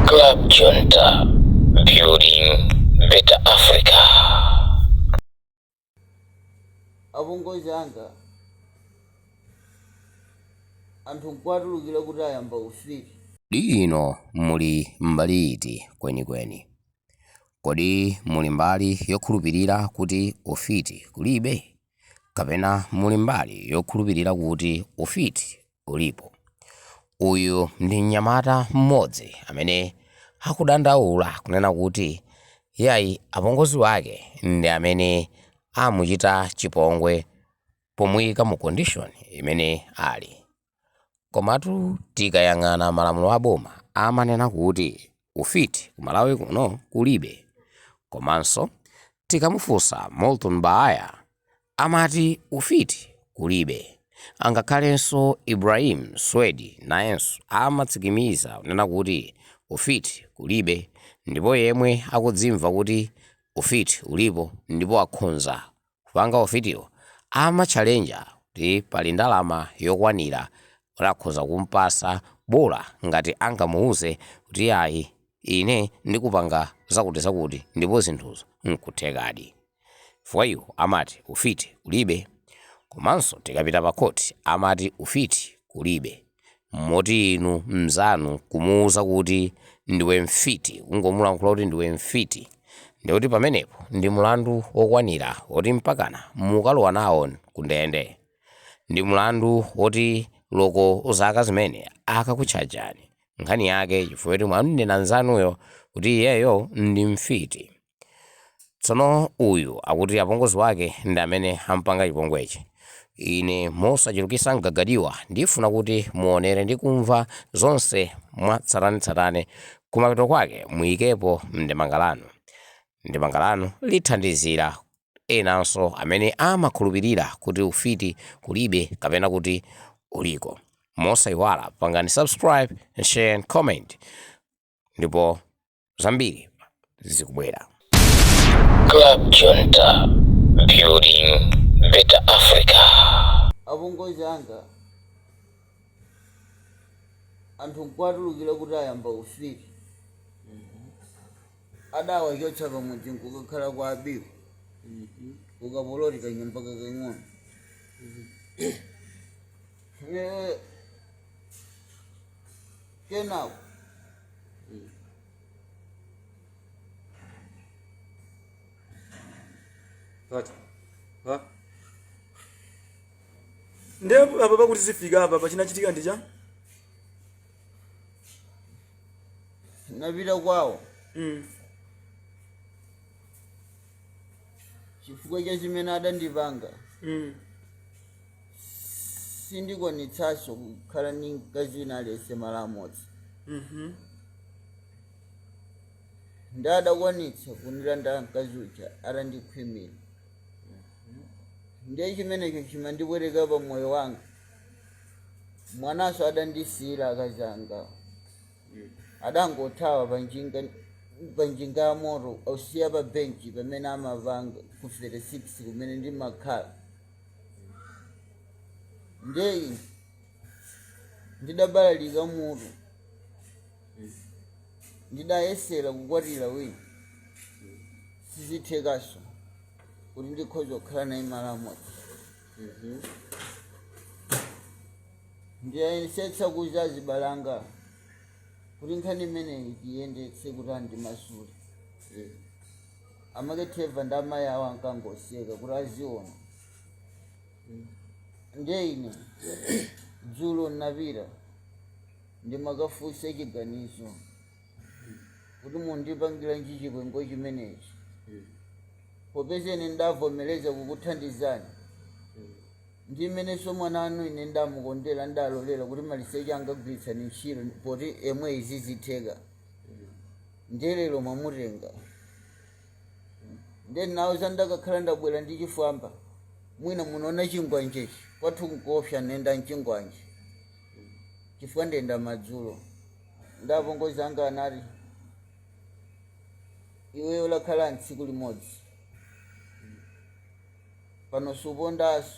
Club Junta, building better Africa. apongozi anga anthu nkuwatulukira kuti ayamba ufiti Kodi inu muli mbali iti kwenikweni? Kodi muli mbali yokhulupirira kuti ufiti kulibe? kapena muli mbali yokhulupirira kuti ufiti ulipo. Uyu ndi mnyamata mmodzi amene akudandaula kunena kuti iyayi apongozi wake ndi amene amuchita chipongwe pomuyika mu condition imene ali. Komatu tikayang'ana malamulo a boma amanena kuti ufiti ku Malawi kuno kulibe. Komanso tikamufunsa Morton Baaya amati ufiti kulibe. Angakhalenso Ibrahim Swedi nayenso amatsikimiza kunena kuti ufiti kulibe ndipo yemwe akudzimva kuti ufiti ulipo ndipo akhonza kupanga ufitiwo amatchalenja kuti pali ndalama yokwanira kuti akhoza kumpasa bola ngati angamuuze kuti yayi ine ndikupanga zakutizakuti ndipo zinthuzo nkuthekadi chifukwa iwo amati ufiti kulibe komanso tikapita pa khoti amati ufiti kulibe Moti inu mzanu kumuuza kuti ndiwe mfiti, kungomulankhula kuti ndiwe mfiti, ndikuti pamenepo ndi mulandu wokwanira woti mpakana mukalowa nawo kundende. Ndi mlandu woti loko zaka zimene akakutchajani, nkhani yake chifukwa choti mwam'nena mzanuyo kuti iyeyo ndi mfiti. Tsono uyu akuti apongozi wake ndi amene ampanga chipongwechi. Ine mosachulukisa m'gaga m'diwa ndifuna kuti muonere ndi kumva zonse mwa tsatanetsatane kumapeto kwake muyikepo mndemanga lanu. Ndemanga lanu lithandizira enanso amene amakhulupirira kuti ufiti kulibe kapena kuti uliko. Mosaiwala pangani subscribe, share and comment. ndipo zambiri zikubwera Club Junta, building better Africa. apongozi anga anthu nkuwatulukira kuti ayamba ufiti adawachotsa pamudzi nkukakhala kwa abiku ukapoloti kanyumba kakang'ono Eh, Kenako nde apa pakuti zifika apa pachinachitika ndi chani? Ndinapita kwawo chifukwa cha chimene adandipanga. sindikwanitsanso kukhala ndi mkazi wina aliyense malo amodzi ndi adakwanitsa kundilanda mkazi uja atandikhwimira ndiye chimenecho chimandipweteka pa moyo wanga mwananso adandisiyira akazi angawo adangothawa panjinga ya moto osiya pa benchi pamene amapanga ku 36 kumene ndimakhala ndiye ine ndidabalalika mutu ndidayesera kukwatira wina sizikuthekaso kuti ndikhoza kukhala naye malo amodzi ndidayesetsa kuuza azibale anga kuti nkhani imeneyi tiyendetse kuti andimasule amake trevor ndi amayi awo ankangoseka kuti aziona ndiye ine dzulo ndinapita ndimakafunsa chiganizo kuti mundipangiranji chipongwe chimenechi popeza ine ndavomereza kukuthandizani ndi mmenenso mwana wanu ine ndamukondera ndalolera kuti maliseche anga gwiritsani ntchito poti inuyo sizitheka ndiye lero mwamutenga ndiye ndinawauza ndikanakhala ndabwera ndi chifwamba mwina munaona chingwanjechi kwathu nkoopsa nenda nchingwanje chifukwa ndenda madzulo ndapongozi anga anati iweyo lakhala ntsiku limodzi pano supondaso